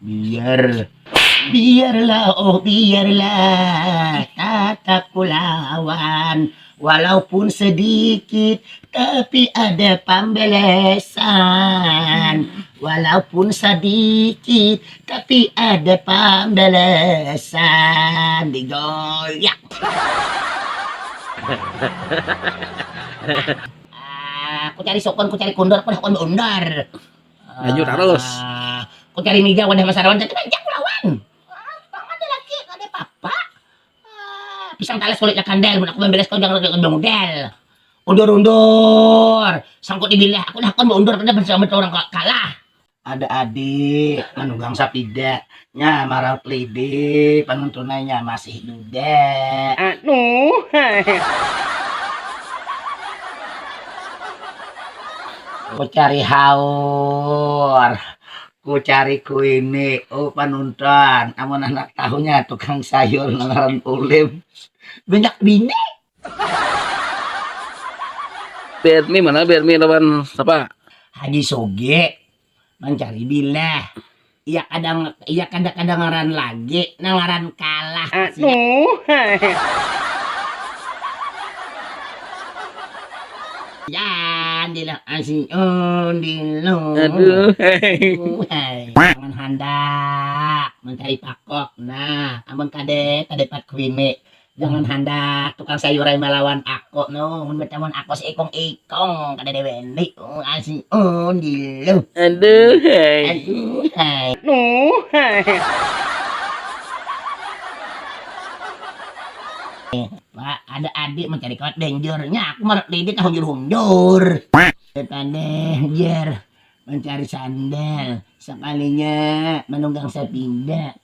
Biar, biarlah, oh biarlah, tatap ku lawan, walaupun sedikit, tapi ada pambalasan, walaupun sadikit, tapi ada pambalasan, digoyak. Aku cari sukun, ku cari kundor, pada hakun baundar. Laju tarus. Ah, ku cari mija wadah masarawan cakit aja ku lawan. Ah, pang ada laki kada papa. Ah, pisang talas kulitnya kandal mun aku mambilas kau jangan kada mamudal. Undur-undur. Sangkut di bilah aku dah hakun baundur kada bansahabat urang kalah. Ada adik manugang sapida. Nya maraup lidi panuntunai nya masih dude. Anu. Ku cari haur, ku cari kuini, uh panunton amun handak tahu nya tukang sayur nang ngaran Ulim banyak bini. Berni mana Berni lawan sapa? Haji Sugih Mancari bilah. Iya kada iya kada kadangaran lagi nang ngaran kalah. Aduh. Jadilah asin undilu. Aduh. Hai. Jangan handak mencari pakok. Nah, amun kade tadepat kuini. Jangan handak tukang sayur ai malawan ako no, mun batamuan ako sa ikong ikong kadada wani asi un gila. Aduhai. Aduhai. Nuhai. Pak ada adik mencari kawat danger, nya aku marap lidi tahunjur hunjur. Petanda jer mencari sandal, sakalinya manunggang sapida.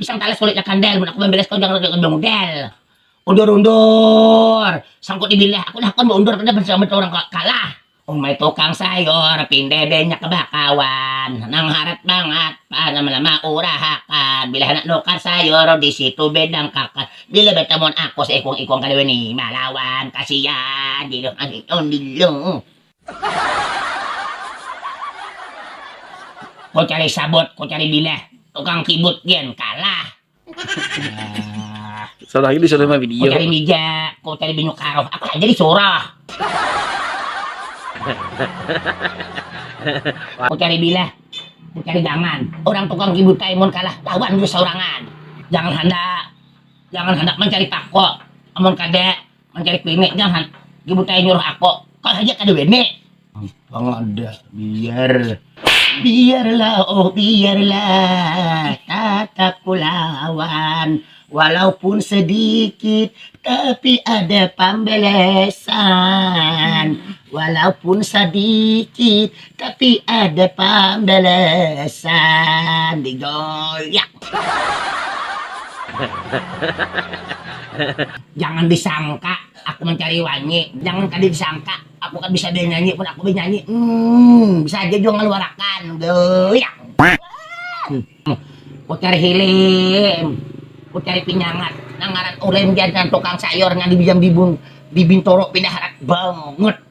pisang talas kulitnya kandal mun aku mambilas kau jangan kaya model undur-undur sangkut dibilah aku dah kon baundur kada bersambat orang kalah umai tukang sayur pinde denya kebakawan nang harat bangat panama-nama urahakan bila handak nukar sayur di situ bedang kakan bila batamuan aku seikung-ikung kada wani malawan kasian diluh undilluh. Ku cari sabut, ku cari bilah, tukang kibut gen kalah. Salah ini salah mah video. Ku cari mija, ku cari binyuk karuh, aku haja disuruh. ku cari bilah, ku cari gangan, urang tukang kibut kae mun kalah lawan ku saurangan. Jangan handak, jangan handak mancari pako, amun kada Mancari bini jangan dibutai nyuruh ako. Kau saja kada bini. Gampang ada. Biar. Biarlah oh biarlah. Tatap kulawan. Walaupun sedikit. Tapi ada pambalasan. Walaupun sedikit. Tapi ada pambalasan di goyak. Jangan disangka aku mencari wanyi, jangan kada disangka aku kada bisa benyanyi pun aku benyanyi hmm bisa haja jua ngaluarakan goyak. Ku cari hilim, ku cari pinyangat nang ngaran ulim ja nang tukang sayur nang di bijang bibun di bintoro pindah harat bangut.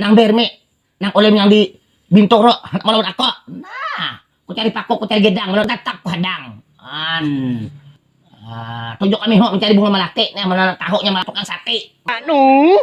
Nang berme, nang oleh menyambi bintur ro, handak malawan ako. Nah, ku cari paku, ku cari gedang, lalu tatap ku hadang. An. Ah, tunjuk kami ho mencari bunga melati, nah mananak tahu nya malapuk nang sati. Anuuhh.